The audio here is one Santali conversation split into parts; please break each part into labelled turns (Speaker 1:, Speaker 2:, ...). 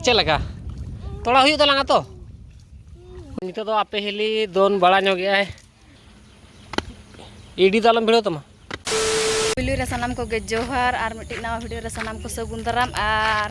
Speaker 1: ᱪᱮᱫ ᱞᱮᱠᱟ ᱛᱚᱲᱟ ᱦᱩᱭᱩᱜ ᱛᱟᱞᱟᱝᱟ ᱛᱚ ᱱᱤᱛᱚᱜ ᱫᱚ ᱟᱯᱮ ᱦᱤᱞᱤ ᱫᱚᱱ ᱵᱟᱲᱟ ᱧᱚᱜᱮᱜᱼᱟᱭ ᱤᱰᱤ ᱫᱚ ᱟᱞᱚᱢ ᱵᱷᱤᱲᱟᱹᱣ ᱛᱟᱢᱟ ᱯᱩᱭᱞᱩ
Speaker 2: ᱨᱮ ᱥᱟᱱᱟᱢ ᱠᱚᱜᱮ ᱡᱚᱦᱟᱨ ᱟᱨ ᱢᱤᱫᱴᱤᱡ ᱱᱟᱣᱟ ᱵᱷᱤᱰᱤᱭᱳ ᱨᱮ ᱥᱟᱱᱟᱢ ᱠᱚ ᱥᱟᱹᱜᱩᱱ ᱫᱟᱨᱟᱢ ᱟᱨ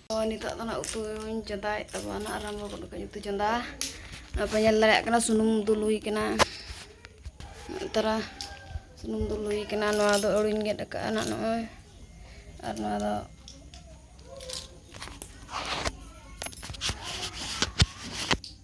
Speaker 2: ᱱᱤᱛᱚᱜ ᱫᱚ ᱱᱟᱜ ᱩᱛᱩᱧ ᱪᱚᱸᱫᱟᱭᱮᱫ ᱛᱟᱵᱚᱱᱟ ᱱᱟᱜ ᱟᱨᱟᱢᱵᱚ ᱜᱚᱫ ᱠᱟᱹᱧ ᱩᱛᱩ ᱪᱚᱸᱫᱟ ᱟᱯᱮ ᱧᱮᱞ ᱫᱟᱲᱮᱭᱟᱜ ᱠᱟᱱᱟ ᱥᱩᱱᱩᱢ ᱫᱩᱞ ᱦᱩᱭ ᱠᱟᱱᱟ ᱛᱟᱨᱟ ᱥᱩᱱᱩᱢ ᱫᱩᱞ ᱦᱩᱭ ᱠᱟᱱᱟ ᱱᱚᱣᱟ ᱫᱚ ᱟᱹᱲᱩᱧ ᱜᱮᱫ ᱟᱠᱟᱫᱼᱟ ᱱᱟᱜ ᱱᱚᱜᱼᱚᱭ ᱟᱨ ᱱᱚᱣᱟ ᱫᱚ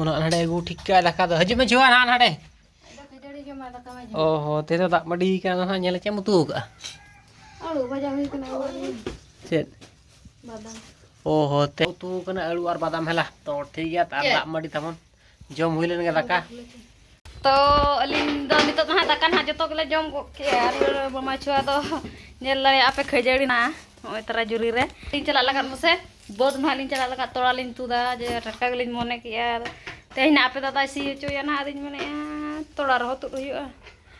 Speaker 1: ᱩᱱᱟᱹᱜ ᱱᱟᱰᱮ ᱟᱹᱜᱩ ᱴᱷᱤᱠ ᱠᱟᱜᱼᱟ ᱫᱟᱠᱟ ᱫᱚ ᱦᱤᱡᱩᱜ ᱢᱮ ᱡᱩᱣᱟ ᱱᱟᱦᱟᱜ ᱱᱟᱰᱮ
Speaker 2: ᱚ ᱦᱚᱸ ᱛᱮᱫᱚ ᱫᱟᱜ ᱢᱟᱹᱰᱤ
Speaker 1: ᱠᱟᱱᱟ ᱱᱟᱦᱟᱜ ᱧᱮᱞ ᱪᱮᱫ ᱮᱢ ᱩᱛᱩ ᱠᱟᱜᱼᱟ ᱟᱹᱞᱩ
Speaker 2: ᱵᱷᱟᱡᱟ ᱦᱩᱭ ᱠᱟᱱᱟ ᱪᱮᱫ ᱵᱟᱫᱟᱢ ᱚ ᱦᱚᱸ
Speaker 1: ᱛᱮ ᱩᱛᱩ ᱠᱟᱱᱟ ᱟᱹᱞᱩ ᱟᱨ ᱵᱟᱫᱟᱢ ᱦᱮᱞᱟ ᱛᱚ ᱴᱷᱤᱠ ᱜᱮᱭᱟ ᱟᱨ ᱫᱟᱜ ᱢᱟᱹᱰᱤ ᱛᱟᱵᱚᱱ ᱡᱚᱢ ᱦᱩᱭ ᱞᱮᱱ ᱜᱮ ᱫᱟᱠᱟ ᱛᱚ
Speaker 2: ᱟᱹᱞᱤᱧ ᱫᱚ ᱱᱤᱛᱚᱜ ᱫᱚ ᱦᱟᱸᱜ ᱫᱟᱠᱟ ᱱᱟᱦᱟᱜ ᱡᱚᱛᱚ ᱜᱮᱞᱮ ᱡᱚᱢ ᱜᱚᱫ ᱠᱮᱜᱼᱟ ᱟᱨ ᱢᱟᱢᱟ ᱪᱷᱩᱣᱟ ᱫᱚ ᱧᱮᱞ ᱫᱟᱲᱮᱭᱟᱜᱼᱟ ᱯᱮ ᱠᱷᱟᱹᱡᱟᱹᱲᱤ ᱱᱟᱜ ᱱᱚᱜᱼᱚᱭ ᱛᱟᱨᱟ ᱡᱩᱨᱤ ᱨᱮ ᱞᱤᱧ ᱪᱟᱞᱟᱜ ᱞᱟᱜᱟᱫ ᱢᱟᱥᱮ ᱵᱟᱹᱫᱽ ᱱᱟᱦᱟᱜ ᱞᱤᱧ ᱪᱟᱞᱟᱜ ᱞᱟᱜᱟᱫ ᱛᱚᱲᱟ ᱞᱤᱧ ᱛᱩᱫᱟ ᱡᱮ ᱴᱟᱴᱠᱟ ᱜᱮᱞᱤᱧ ᱢᱚᱱᱮ ᱠᱮᱜᱼᱟ ᱛᱮᱦᱮᱧ ᱱᱟᱜ ᱟᱯᱮ ᱫᱟᱫᱟᱭ ᱥᱤ ᱦᱚᱪᱚᱭᱟ ᱱᱟᱦᱟᱜ ᱟᱫᱚᱧ ᱢᱮᱱᱮᱜᱼᱟ ᱛᱚᱲᱟ ᱨᱮᱦᱚᱸ ᱛᱩᱫ ᱦᱩᱭᱩᱜᱼᱟ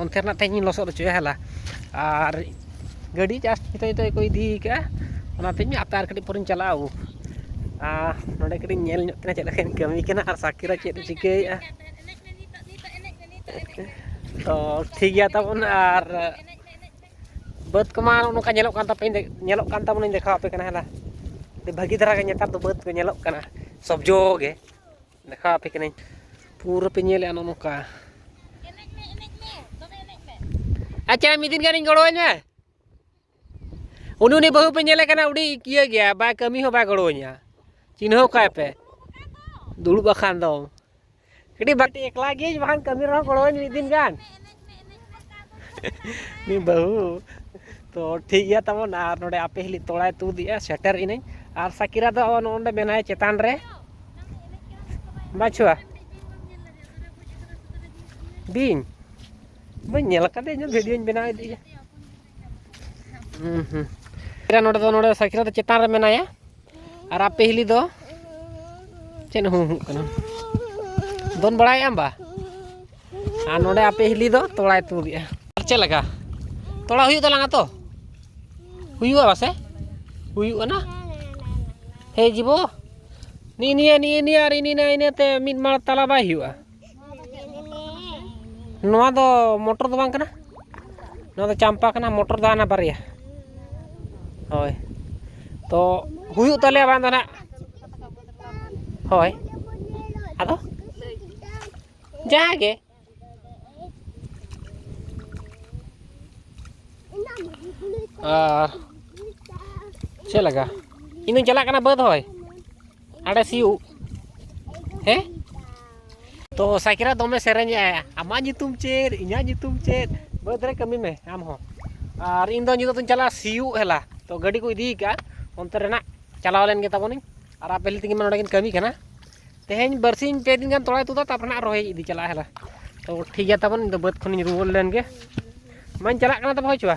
Speaker 1: ᱚᱱᱛᱮ ᱨᱮᱱᱟᱜ ᱛᱮᱦᱮᱧ ᱤᱧ ᱞᱚᱥᱚᱫ ᱦᱚᱪᱚᱭᱟ ᱦᱮᱞᱟ ᱟᱨ ᱜᱟᱹᱰᱤ ᱡᱟᱥᱴ ᱱᱤᱛᱚᱜ ᱱᱤᱛᱚᱜ ᱜᱮᱠᱚ ᱤᱫᱤ ᱠᱟᱜᱼᱟ ᱚᱱᱟᱛᱤᱧ ᱦᱟᱯᱮ ᱟᱨ ᱠᱟᱹᱴᱤᱡ ᱯᱚᱨᱮᱧ ᱪᱟᱞᱟᱜᱼᱟ ᱳᱦ ᱟᱨ ᱱᱚᱰᱮ ᱠᱟᱹᱴᱤᱡ ᱤᱧ ᱧᱮᱞ ᱧᱚᱜ ᱠᱤᱱᱟ ᱪᱮᱫ ᱞᱮᱠᱟᱧ ᱠᱟᱹᱢᱤ ᱠᱟᱱᱟ ᱟᱨ ᱥᱟᱠᱤᱨᱟ ᱪᱮᱫ ᱮ ᱪᱤᱠᱟᱹᱭᱮᱫᱼᱟ ᱛᱚ ᱴᱷᱤᱠ ᱜᱮᱭᱟ ᱛᱟᱵᱚᱱ ᱟᱨ ᱵᱟᱹᱫᱽ ᱠᱚᱢᱟ ᱱᱚᱝᱠᱟ ᱧᱮᱞᱚᱜ ᱠᱟᱱ ᱛᱟᱯᱮ ᱧᱮᱞᱚᱜ ᱠᱟᱱ ᱛᱟᱵᱚᱱᱟᱹᱧ ᱫᱮᱠᱷᱟᱣ ᱟᱯᱮ ᱠᱟᱱᱟ ᱦᱮᱞᱟ ᱟᱹᱰᱤ ᱵᱷᱟᱹᱜᱤ ᱫᱷᱟᱨᱟ ᱜᱮ ᱱᱮᱛᱟᱨ ᱫᱚ ᱵᱟᱹᱫᱽ ᱠᱚ ᱧᱮᱞᱚᱜ ᱠᱟᱱᱟ ᱥᱚᱵᱽᱡᱚ ᱜᱮ ᱫᱮᱠᱷᱟᱣ ᱟᱯᱮ ᱠᱟᱹᱱᱟᱹᱧ ᱯᱩᱨᱟᱹ ᱯᱮ ᱧᱮᱞᱮᱜᱼᱟ ᱱᱚᱜᱼᱚ ᱱᱚᱝᱠᱟ ᱟᱪᱪᱷᱟ ᱢᱤᱫ ᱫᱤᱱ ᱜᱟᱱᱤᱧ ᱜᱚᱲᱚᱣᱟᱹᱧ ᱢᱮ ᱩᱱᱤ ᱩᱱᱤ ᱵᱟᱹᱦᱩ ᱯᱮ ᱧᱮᱞᱮ ᱠᱟᱱᱟ ᱩᱰᱤ ᱤᱭᱟᱹ ᱜᱮᱭᱟ ᱵᱟᱭ ᱠᱟᱹᱢᱤ ᱦᱚᱸ ᱵᱟᱭ ᱜᱚᱲᱚᱣᱟᱹᱧᱟ ᱪᱤᱱᱦᱟᱹᱣ ᱠᱟᱭ ᱯᱮ ᱫᱩᱲᱩᱵ ᱟᱠᱟᱱ ᱫᱚ ᱠᱟᱹᱴᱤᱡ ᱵᱟᱹᱴᱤ ᱮᱠᱞᱟ ᱜᱤᱭᱟᱹᱧ ᱵᱟᱠᱷᱟᱱ ᱠᱟᱹᱢᱤ ᱨᱮᱦᱚᱸ ᱜᱚᱲᱚᱣᱟᱹᱧ ᱢᱤᱫ ᱫᱤᱱ ᱜᱟᱱ ᱱᱤ ᱵᱟᱹᱦᱩ ᱛᱚ ᱴᱷᱤᱠ ᱜᱮᱭᱟ ᱛᱟᱵᱚᱱ ᱟᱨ ᱱᱚᱰᱮ ᱟᱯᱮ ᱦᱤᱞᱤ ᱛᱚᱲᱟᱭ ᱛᱩᱫᱮᱜᱼᱟ ᱥᱮᱴᱮᱨ ᱤᱱᱟᱹᱧ ᱟᱨ ᱥᱟᱠᱤᱨᱟ ᱫᱚ ᱱᱚᱰᱮ ᱢᱮᱱᱟᱭ ᱪᱮᱛᱟᱱ ᱨᱮ ᱵᱟᱪᱷᱩᱣᱟ ᱵᱤᱧ ᱵᱟᱹᱧ ᱧᱮᱞ ᱟᱠᱟᱫᱮ ᱤᱧ ᱵᱷᱤᱰᱤᱭᱳᱧ ᱵᱮᱱᱟᱣ ᱤᱫᱤᱭᱟ ᱦᱩᱸ ᱦᱩᱸ ᱮᱨᱟ ᱱᱚᱰᱮ ᱫᱚ ᱱᱚᱰᱮ ᱥᱟᱠᱨᱟ ᱫᱚ ᱪᱮᱛᱟᱱ ᱨᱮ ᱢᱮᱱᱟᱭᱟ ᱟᱨ ᱟᱯᱮ ᱦᱤᱞᱤ ᱫᱚ ᱪᱮᱫ ᱦᱩᱸ ᱦᱩᱸ ᱠᱟᱱᱟ ᱫᱚᱱ ᱵᱟᱲᱟᱭ ᱟᱢ ᱵᱟ ᱟᱨ ᱱᱚᱰᱮ ᱟᱯᱮ ᱦᱤᱞᱤ ᱫᱚ ᱛᱚᱲᱟᱭ ᱛᱩᱫᱮᱜᱼᱟ ᱪᱮᱫ ᱞᱮᱠᱟ ᱛᱚᱲᱟ ᱦᱩᱭᱩᱜ ᱛᱟᱞᱟᱝᱟ ᱛᱚ ᱦᱩᱭᱩᱜᱼᱟ ᱵᱟᱥᱮ ᱦᱩᱭᱩᱜᱼᱟ ᱱᱟ ᱦᱮᱸ ᱡᱤᱵᱚ ᱱᱤᱭᱟᱹ ᱱᱤᱭᱟᱹ ᱱᱤᱭᱟᱹ ᱱᱤᱭᱟᱹ ᱟᱨ ᱤᱱᱟᱹ ᱤᱱᱟᱹ ᱤᱱᱟᱹᱛᱮ ᱢᱤᱫ ᱢᱟᱬ ᱛᱟᱞᱟ ᱵᱟᱭ ᱦᱩᱭᱩᱜᱼᱟ ᱱᱚᱣᱟ ᱫᱚ ᱢᱚᱴᱚᱨ ᱫᱚ ᱵᱟᱝ ᱠᱟᱱᱟ ᱱᱚᱣᱟ ᱫᱚ ᱪᱟᱢᱯᱟ ᱠᱟᱱᱟ ᱢᱚᱴᱚᱨ ᱫᱚ ᱦᱟᱱᱟ ᱵᱟᱨᱭᱟ ᱦᱳᱭ ᱛᱚ ᱦᱩᱭᱩᱜ ᱛᱟᱞᱮᱭᱟ ᱵᱟᱝ ᱫᱚ ᱱᱟᱜ ᱦᱳᱭ ᱟᱫᱚ ᱡᱟᱦᱟᱸ ᱜᱮ ᱟᱨ ᱪᱮᱫ ᱞᱮᱠᱟ ᱤᱧᱫᱚᱧ ᱪᱟᱞᱟᱜ ᱠᱟᱱᱟ ᱵᱟᱹᱫᱽ ᱦᱳᱭ ᱟᱲᱮ ᱥᱤᱭᱩᱜ ᱦᱮᱸ ᱛᱚ ᱥᱟᱭᱠᱮᱞᱟ ᱫᱚᱢᱮ ᱥᱮᱨᱮᱧ ᱮᱜᱼᱟᱭ ᱟᱢᱟᱜ ᱧᱩᱛᱩᱢ ᱪᱮᱫ ᱤᱧᱟᱹᱜ ᱧᱩᱛᱩᱢ ᱪᱮᱫ ᱵᱟᱹᱫᱽ ᱨᱮ ᱠᱟᱹᱢᱤ ᱢᱮ ᱟᱢ ᱦᱚᱸ ᱟᱨ ᱤᱧ ᱫᱚ ᱧᱤᱫᱟᱹ ᱫᱚᱧ ᱪᱟᱞᱟᱜᱼᱟ ᱥᱤᱭᱩᱜ ᱦᱮᱞᱟ ᱛᱚ ᱜᱟᱹᱰᱤ ᱠᱚ ᱤᱫᱤ ᱠᱟᱜᱼᱟ ᱚᱱᱛᱮ ᱨᱮᱱᱟᱜ ᱪᱟᱞᱟᱣ ᱞᱮᱱ ᱜᱮ ᱛᱟᱵᱚᱱᱤᱧ ᱟᱨ ᱟᱯᱮ ᱛᱮᱜᱮ ᱱᱚᱰᱮ ᱠᱤᱱ ᱠᱟᱹᱢᱤ ᱠᱟᱱᱟ ᱛᱮᱦᱮᱧ ᱵᱟᱨᱥᱤᱧ ᱯᱮ ᱫᱤᱱ ᱜᱟᱱ ᱛᱚᱲᱟᱭ ᱛᱩᱫᱟ ᱛᱟᱨᱯᱚᱨᱮ ᱱᱟᱜ ᱨᱚᱦᱚᱭ ᱤᱫᱤ ᱪᱟᱞᱟᱜᱼᱟ ᱦᱮᱞᱟ ᱛᱚ ᱴᱷᱤᱠ ᱜᱮᱭᱟ ᱛᱟᱵᱚᱱ ᱤᱧ ᱫᱚ ᱵᱟᱹᱫᱽ ᱠᱷᱚᱱᱤᱧ ᱨᱩᱣᱟᱹᱲ ᱞᱮᱱ ᱜᱮ ᱢᱟᱧ ᱪᱟᱞᱟᱜ ᱠᱟᱱᱟ ᱛᱚᱵᱮ ᱦᱳᱭ ᱪᱚᱣᱟ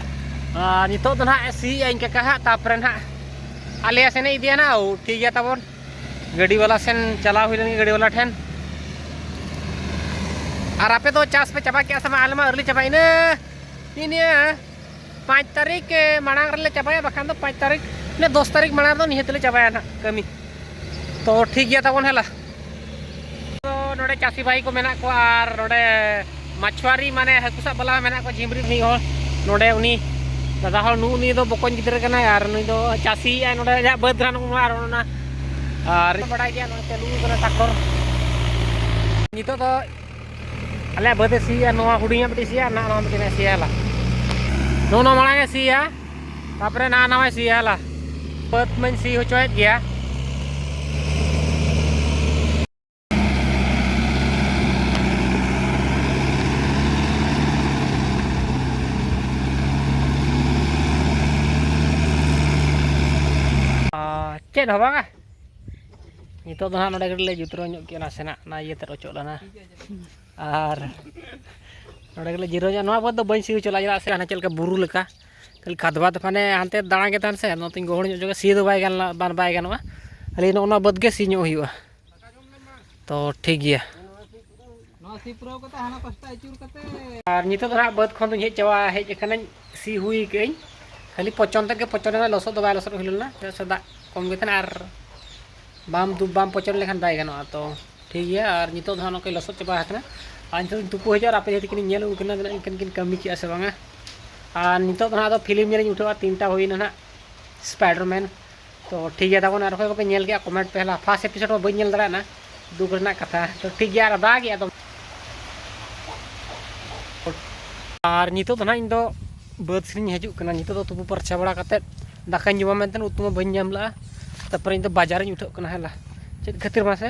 Speaker 1: ᱟᱨ ᱱᱤᱛᱚᱜ ᱫᱚ ᱱᱟᱦᱟᱜ ᱥᱤᱭᱮᱜᱼᱟ ᱤᱧ ᱠᱟᱠᱟ ᱦᱟᱸᱜ ᱛᱟᱯᱚᱨᱮ ᱱᱟᱦᱟᱜ ᱟᱞᱮᱭᱟ ᱥᱮᱱᱮ ᱤᱫᱤᱭᱟ ᱱᱟ ᱴᱷᱤᱠ ᱜᱮᱭᱟ ᱛᱟᱵᱚᱱ ᱜᱟᱹᱰᱤ ᱵᱟᱞᱟ ᱥᱮᱱ ᱪᱟᱞᱟᱣ ᱦᱩᱭ ᱞᱮᱱ ᱜᱟᱹᱰᱤ ᱵᱟᱞᱟ ᱴᱷᱮᱱ ᱟᱨ ᱟᱯᱮ ᱫᱚ ᱪᱟᱥ ᱯᱮ ᱪᱟᱵᱟ ᱠᱮᱜᱼᱟ ᱥᱮ ᱵᱟᱝ ᱟᱞᱮ ᱢᱟ ᱟᱹᱣᱨᱤ ᱪᱟᱵᱟ ᱤᱱᱟᱹ ᱤᱱᱟᱹ ᱯᱟᱸᱪ ᱛᱟᱹᱨᱤᱠᱷ ᱢᱟᱲᱟᱝ ᱨᱮᱞᱮ ᱪᱟᱵᱟᱭᱟ ᱵᱟᱠᱷᱟᱱ ᱫᱚ ᱯᱟᱸᱪ ᱛᱟᱹᱨᱤᱠᱷ ᱤᱱᱟᱹ ᱫᱚᱥ ᱛᱟᱹᱨᱤᱠᱷ ᱢᱟᱲᱟᱝ ᱨᱮᱫᱚ ᱱᱤᱦᱟᱹᱛ ᱞᱮ ᱪᱟᱵᱟᱭᱟ ᱱᱟᱦᱟᱜ ᱠᱟᱹᱢᱤ ᱛᱚ ᱴᱷᱤᱠ ᱜᱮᱭᱟ ᱛᱟᱵᱚᱱ ᱦᱮᱞᱟ ᱱᱚᱰᱮ ᱪᱟᱹᱥᱤ ᱵᱷᱟᱭ ᱠᱚ ᱢᱮᱱᱟᱜ ᱠᱚᱣᱟ ᱟᱨ ᱱᱚᱰᱮ ᱢᱟᱪᱷᱣᱟᱨᱤ ᱢᱟᱱᱮ ᱦᱟᱹᱠᱩ ᱥᱟᱵ ᱵᱟᱞᱟ ᱢᱮᱱᱟᱜ ᱠᱚᱣᱟ ᱡᱷᱤᱢᱨᱤ ᱢᱤᱫ ᱦᱚᱲ ᱱᱚᱰᱮ ᱩᱱᱤ ᱫᱟᱫᱟ ᱦᱚᱲ ᱱᱩᱜ ᱱᱩᱭ ᱫᱚ ᱵᱚᱠᱚᱧ ᱜᱤᱫᱽᱨᱟᱹ ᱠᱟᱱᱟᱭ ᱟᱨ ᱱᱩᱭ ᱫᱚ ᱪᱟᱹᱥᱤ ᱟᱭ ᱱᱚᱰᱮ ᱟᱡᱟᱜ ᱵᱟᱹᱫᱽ ᱨᱟᱱ ᱟᱨ ᱚᱱᱟ ᱟᱨ ᱵᱟᱰᱟᱭ ᱜᱮᱭᱟ ᱱᱚᱰᱮ ᱪᱟᱹᱞᱩ ᱠᱟᱱᱟ ᱴᱟᱠᱴᱚᱨ ᱱᱤᱛᱚᱜ ᱫᱚ ᱟᱞᱮᱭᱟᱜ ᱵᱟᱹᱫᱮ ᱥᱤᱭᱟ ᱱᱚᱣᱟ ᱦᱩᱰᱤᱧᱟᱜ ᱢᱤᱫᱴᱤᱡ ᱥᱤᱭᱟ ᱱᱟ ᱱᱚᱣᱟ ᱢᱤᱫᱴᱤᱡ ᱥᱤᱭᱟ ᱞᱟ ᱱᱚᱣᱟ ᱱᱚᱣᱟ ᱢᱟᱲᱟᱝ ᱮ ᱥᱤᱭᱟ ᱛᱟᱯᱚᱨᱮ ᱱᱟ ᱱᱟᱣᱟᱭ ᱥᱤᱭᱟ ᱞᱟ ᱵᱟᱹᱫ ᱢᱟᱹᱧ ᱥᱤ ᱦᱚᱪᱚᱭᱮᱫ ᱜᱮᱭᱟ ᱪᱮᱫ ᱦᱚᱸ ᱵᱟᱝᱟ ᱱᱤᱛᱚᱜ ᱫᱚ ᱦᱟᱸᱜ ᱱᱚᱰᱮ ᱠᱟᱹᱴᱤᱡ ᱞᱮ ᱡᱩᱛᱨᱟᱹᱣ ᱧᱚᱜ ᱠᱮᱜᱼᱟ ᱱᱟᱥᱮᱱᱟᱜ ᱚᱱᱟ ᱤᱭᱟᱹᱛᱮ ᱚᱪᱚᱜ ᱞᱮᱱᱟ ᱟᱨ ᱱᱚᱰᱮ ᱜᱮᱞᱮ ᱡᱤᱨᱟᱹᱣ ᱧᱚᱜ ᱱᱚᱣᱟ ᱵᱟᱹᱫᱽ ᱫᱚ ᱵᱟᱹᱧ ᱥᱤ ᱦᱚᱪᱚ ᱞᱮᱫᱟ ᱪᱮᱫᱟᱜ ᱥᱮ ᱦᱟᱱᱮ ᱪᱮᱫ ᱞᱮᱠᱟ ᱵᱩᱨᱩ ᱞᱮᱠᱟ ᱠᱷᱟᱹᱞᱤ ᱠᱷᱟᱫᱽᱵᱟᱫᱽ ᱢᱟᱱᱮ ᱦᱟᱱᱛᱮ ᱫᱟᱬᱟ ᱜᱮ ᱛᱟᱦᱮᱱ ᱥᱮ ᱱᱚᱛᱮᱧ ᱜᱚᱦᱚᱲ ᱧᱚᱜ ᱡᱚᱝᱟ ᱥᱤ ᱫᱚ ᱵᱟᱭ ᱜᱟᱱ ᱞᱮᱱᱟ ᱵᱟᱭ ᱜᱟᱱᱚᱜᱼᱟ ᱠᱷᱟᱹᱞᱤ ᱱᱚᱜᱼᱚ ᱱᱚᱣᱟ ᱵᱟᱹᱫᱽ ᱜᱮ ᱥᱤ ᱧᱚᱜ ᱦᱩᱭᱩᱜᱼᱟ ᱛᱚ ᱴᱷᱤᱠ ᱜᱮᱭᱟ ᱱᱚᱣᱟ ᱥᱤ ᱯᱩᱨᱟᱹᱣ ᱠᱟᱛᱮ ᱦᱟᱱᱟ ᱯᱟᱥᱴᱟ ᱟᱹᱪᱩᱨ ᱠᱟᱛᱮ ᱟᱨ ᱱᱤᱛᱚᱜ ᱫᱚ ᱦᱟᱸᱜ ᱵᱟᱹᱫᱽ ᱠᱷᱚᱱ ᱫᱚᱧ ᱦᱮᱡ ᱪᱟᱵᱟ ᱦᱮᱡ ᱟᱠᱟᱱᱟᱹᱧ ᱥᱤ ᱦᱩᱭ ᱠᱟᱹᱜᱟᱹᱧ ᱠᱷᱟᱹᱞᱤ ᱯᱚᱪᱚᱱ ᱛᱮᱜᱮ ᱯᱚᱪᱚᱱ ᱞᱮᱱᱟ ᱞᱚᱥᱚᱫ ᱫᱚ ᱵᱟᱭ ᱞᱚᱥᱚᱫ ᱦᱩᱭ ᱞᱮᱱᱟ ᱪᱮᱫᱟᱜ ᱥᱮ ᱫᱟᱜ ᱠᱚᱢ ᱜᱮ ᱛᱟᱦᱮᱱᱟ ᱟᱨ ᱵᱟᱢ ᱫᱩᱵ ᱵᱟᱢ ᱯᱚᱪᱚᱱ ᱞᱮᱠᱷᱟᱱ ᱵᱟᱭ ᱜᱟᱱᱚᱜᱼᱟ ᱛᱚ ᱴᱷᱤᱠ ᱜᱮᱭᱟ ᱟᱨ ᱱᱤᱛᱚᱜ ᱫᱚ ᱦᱟᱸᱜ ᱱᱚᱝᱠᱟᱧ ᱞᱚᱥᱚᱫ ᱪᱟᱵᱟ ᱟᱠᱟᱱᱟ ᱟᱨ ᱱᱤᱛᱚᱜ ᱫᱚᱧ ᱛᱩᱯᱩ ᱦᱤᱡᱩᱜᱼᱟ ᱟᱨ ᱟᱯᱮ ᱡᱟᱦᱟᱸ ᱛᱤᱠᱤᱱ ᱧᱮᱞ ᱩᱱᱠᱤᱱ ᱫᱚ ᱩᱱᱠᱤᱱ ᱠᱤᱱ ᱠᱟᱹᱢᱤ ᱠᱮᱜᱼᱟ ᱥᱮ ᱵᱟᱝᱟ ᱟᱨ ᱱᱤᱛᱚᱜ ᱫᱚ ᱦᱟᱸᱜ ᱟᱫᱚ ᱯᱷᱤᱞᱢ ᱧᱮᱞᱤᱧ ᱩᱴᱷᱟᱹᱣᱟ ᱛᱤᱱᱴᱟ ᱦᱩᱭᱱᱟ ᱦᱟᱸᱜ ᱥᱯᱟᱭᱰᱟᱨᱢᱮᱱ ᱛᱚ ᱴᱷᱤᱠ ᱜᱮᱭᱟ ᱛᱟᱵᱚᱱ ᱟᱨ ᱚᱠᱚᱭ ᱠᱚᱯᱮ ᱧᱮᱞ ᱠᱮᱜᱼᱟ ᱠᱚᱢᱮᱱᱴ ᱯᱮ ᱦᱮᱞᱟ ᱯᱷᱟᱥᱴ ᱮᱯᱤᱥᱳᱰ ᱢᱟ ᱵᱟᱹᱧ ᱧᱮᱞ ᱫᱟᱲᱮᱭᱟᱜᱼᱟ ᱫᱩᱠ ᱨᱮᱱᱟᱜ ᱠᱟᱛᱷᱟ ᱛᱚ ᱴᱷᱤᱠ ᱜᱮᱭᱟ ᱟᱨ ᱫᱟᱜ ᱜᱮᱭᱟ ᱫᱚᱢ ᱟᱨ ᱱᱤᱛᱚᱜ ᱫᱚ ᱱᱟᱦᱟᱜ ᱤᱧ ᱫᱚ ᱵᱟᱹᱫᱽ ᱥᱮᱫᱤᱧ ᱦᱤᱡᱩᱜ ᱠᱟᱱᱟ ᱱᱤᱛᱚᱜ ᱫᱚ ᱛᱩᱯᱩ ᱯᱟᱨᱪᱟ ᱵᱟᱲᱟ ᱠᱟᱛᱮᱫ ᱫᱟᱠᱟᱧ ᱡᱚᱢᱟ ᱢᱮᱱᱛᱮ ᱩᱛᱩ ᱢᱟ ᱵᱟᱹᱧ ᱧᱟᱢ ᱞᱟᱜᱼᱟ ᱛᱟᱨᱯᱚᱨᱮ ᱤᱧ ᱫᱚ ᱵᱟᱡᱟᱨᱤᱧ ᱩᱴᱷᱟᱹᱜ ᱠᱟᱱᱟ ᱦᱮᱞᱟ ᱪᱮᱫ ᱠᱷᱟᱹᱛᱤᱨ ᱢᱟᱥᱮ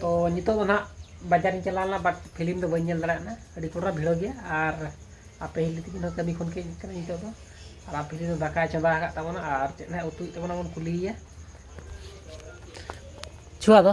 Speaker 1: ᱛᱚ ᱱᱤᱛᱚᱜ ᱫᱚ ᱱᱟᱦᱟᱜ ᱵᱟᱡᱟᱨᱤᱧ ᱪᱟᱞᱟᱣ ᱞᱮᱱᱟ ᱵᱟᱴ ᱯᱷᱤᱞᱤᱢ ᱫᱚ ᱵᱟᱹᱧ ᱧᱮᱞ ᱫᱟᱲᱮᱭᱟᱜ ᱠᱟᱱᱟ ᱟᱹᱰᱤ ᱠᱚᱰᱨᱟ ᱵᱷᱤᱲᱚ ᱜᱮᱭᱟ ᱟᱨ ᱟᱯᱮ ᱦᱤᱞᱤ ᱛᱟᱹᱠᱤᱱ ᱦᱚᱸ ᱠᱟᱹᱢᱤ ᱠᱷᱚᱱ ᱠᱤᱱ ᱦᱮᱡ ᱠᱟᱱᱟ ᱱᱤᱛᱚᱜ ᱫᱚ ᱟᱨ ᱟᱯᱮ ᱦᱤᱞᱤ ᱫᱚ ᱫᱟᱠᱟᱭ ᱪᱚᱸᱫᱟ ᱟᱠᱟᱫ ᱛᱟᱵᱚᱱᱟ ᱟᱨ ᱪᱮᱫ ᱱᱟᱦᱟᱜ ᱩᱛᱩᱭᱮᱫ ᱛᱟᱵᱚᱱᱟ ᱵᱚᱱ ᱠᱩᱞᱤᱭᱮᱭᱟ ᱪᱷᱩᱣᱟ ᱫᱚ